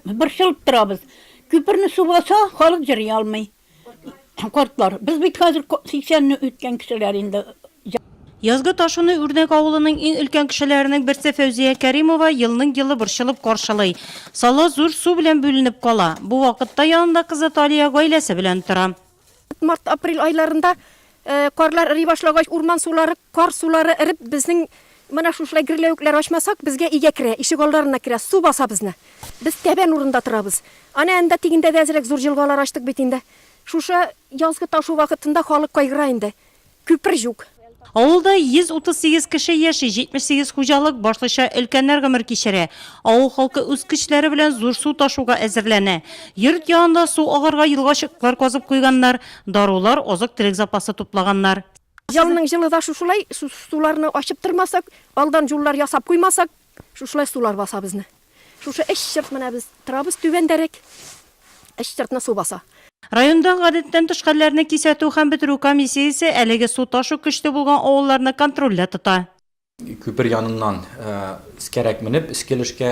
Борчылып торабыз. Күперне су баса, халык җыри алмый. Картлар, без бит хәзер 80 не үткән кешеләр инде. Язгы Ташуны Үрнәк авылының иң өлкән кешеләренең берсе Фәүзия Кәримова елның-елы борчылып каршылый. Сала зур су белән бүленеп кала. Бу вакытта янында кызы Талия гаиләсе белән тора. Март-апрель айларында карлар эри башлагач, урман сулары, кар сулары эреп, безнең менә шушылай герләвекләр ачмасак, безгә өйгә керә, ишек алдарына керә, су баса безне. Без тәбән урында торабыз. Әнә анда тигендә дә әзрәк зур җылгалар ачтык бит инде. Шушы язгы ташу вакытында халык кайгыра инде. Күпер-Җук. Авылда 138 кеше яши, 78 хуҗалык, башлыча өлкәннәр гомер кичерә. Авыл халкы үз көчләре белән зур су ташуга әзерләнә. Йорт янында су агарга елгачыклар казып куйганнар, дарулар, азык-төлек запасы туплаганнар. Елның җылы да шушылай, суларны ачып тормасак, алдан җуллар ясап куймасак, шушылай сулар баса безне. Шушы эч чырт менә без торабыз түбәндәрәк. Эч чыртны су баса. Районда гадәттән тыш хәлләрне кисәтү һәм бетерү комиссиясе әлеге су ташу көчле булган авылларны контрольдә тота. Күпер яныннан өскәрәк менеп, өске өлешкә,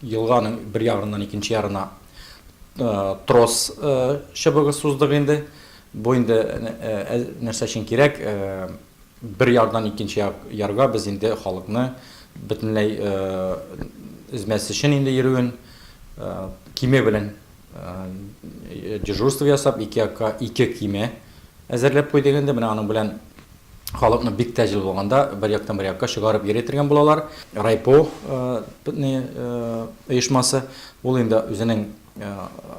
елганың бер ягыннан икенче ярына трос чыбыгы суздык инде. Бу инде нәрсә өчен кирәк? Бер ярдан икенче ярга без инде халыкны бөтенләй өзмәс өчен инде йөрүен, киме белән дежурство ясап, ике якка ике киме әзерләп куйдык инде. Менә аның белән халыкны бик тә җылы булганда бер яктан бер якка чыгарып йөри тергән булалар. Райпо оешмасы, ул инде үзенең.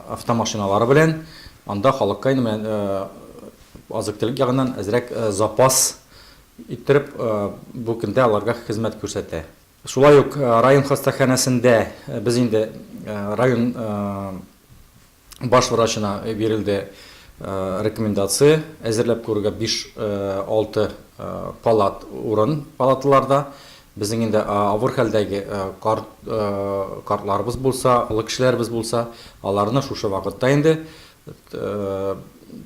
автомашиналары белән анда халыкка инде менә азык-төлек ягыннан әзрәк запас иттереп, бу көндә аларга хезмәт күрсәтә. Шулай ук район хастаханәсендә без инде район баш врачына бирелде рекомендация, әзерләп куярга биш-алты палат урын палаталарда Безнең инде авыр хәлдәге карт картларыбыз булса, олы кешеләребез булса, аларны шушы вакытта инде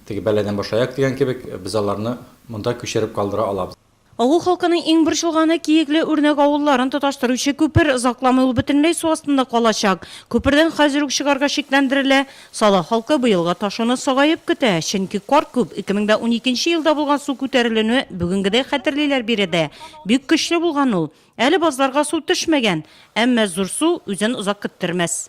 теге бәладән башлаяк дигән кебек, без аларны монда күчереп калдыра алабыз. Авыл халкының иң борчылганы, Киекле Үрнәк авылларын тоташтыручы күпер, озакламый ул бөтенләй су астында калачак. Күпердән хәзер үк чыгарга шикләндерелә. Сала халкы быелгы ташуны сагаеп көтә, чөнки кар күп, 2012 нче елда булган су күтәрелүне бүгенгедәй хәтерлиләр биредә, бик көчле булган ул. Әле базларга су төшмәгән, әмма зур су үзен озак көттермәс.